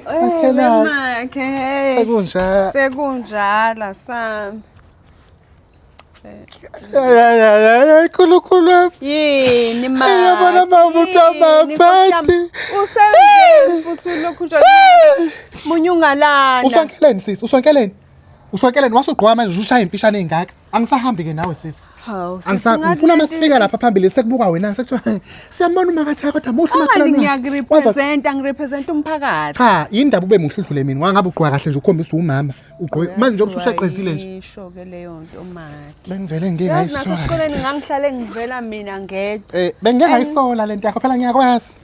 Makhelwane. Sekunjalo. Sekunjala sami. Hayi khulukhulu wami. Yini ma? Yabona mama umuntu amaphathi. Usebenze futhi ulokhu nje. Munye ungalanda. Uswankeleni sisi? Uswankeleni? Uswankeleni wasugqoka manje ushaya imfishane engaka. Angisahambi ke nawe sisi. Hawu. Angisa ngifuna masifika lapha phambili sekubuka wena sekuthiwa siyambona umakatha kodwa muhle umakhelwane. Angani ngiyakurepresent angirepresent umphakathi. Cha indaba ube muhludlule mina wangabe ugqoka kahle nje ukhombisa umama. Ugqoke manje nje usushaqezile nje. Isho ke leyo nto umakhe. Bengivele ngeke ngayisola. Yazi nasikoleni ngangihlale ngivela mina ngedwa. Eh bengeke ngayisola lento yakho phela ngiyakwazi.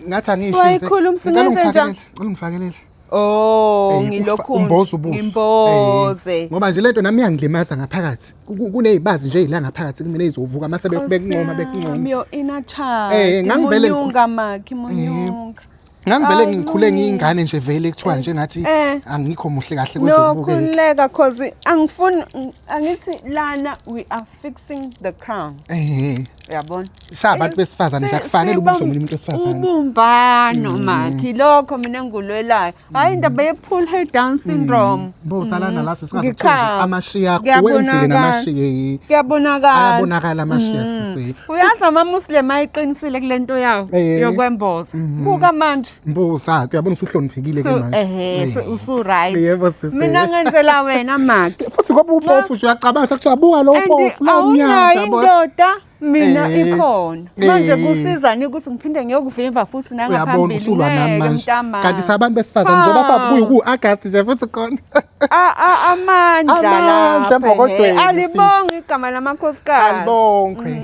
Ngathi angisho. Wayikhuluma singenze njani? Ngicela ungifakelele. Oh, Ey, ufa- ngilokhu umboza ubuso. ngimboze. Ey, ngoba nje lento nami yangilimaza ngaphakathi Ku- ku- kunezibazi nje ila ngaphakathi kumina izovuka mase bek- bekuncoma bekuncoma Myo ina child. Eh, ngangivele ngikhu- munyunga makhi munyunga. ngangivele Ay, ngikhule no. ngiyingane nje vele kuthiwa nje ngathi Eh. angikho muhle kahle No kwezokubukeka khuleka cause angifuni angithi lana we are fixing the crown ehe uyabona sabantu besifazane nje akufanele ubuso omunye umuntu wesifazane ubumbano mm. makhi lokho mina ngulwelayo hayi indaba ye pull her down mm. syndrome bo salana la sisingazithola amashiya akho wenzile namashiya yi kuyabonakala ayabonakala amashiya mm. sisi uyazi ama muslim ayiqinisile kulento yawo yokwemboza buka manje Mbuza, uyabona usuhloniphekile ke manje. Ehhe, so- usu-right. Yebo sisi. Mina ngenzela wena maki. Futhi ngoba upofu nje uyacabanga sekuthiwa buka lo And upofu la awunayo umnyama yabo. indoda mina Eh, ikhona manje eh. kusizani ukuthi ngiphinde ngiyokuvimba futhi Uyabona nangaphambili usulwa nami ngeke manje. mntamami. Kanti sabantu besifazane njengoba Hawu. sabuya ku August nje futhi khona. A- a- amandla Amandla lapha, embokodweni, eh, alibonge igama lamakhosikazi Alibongwe.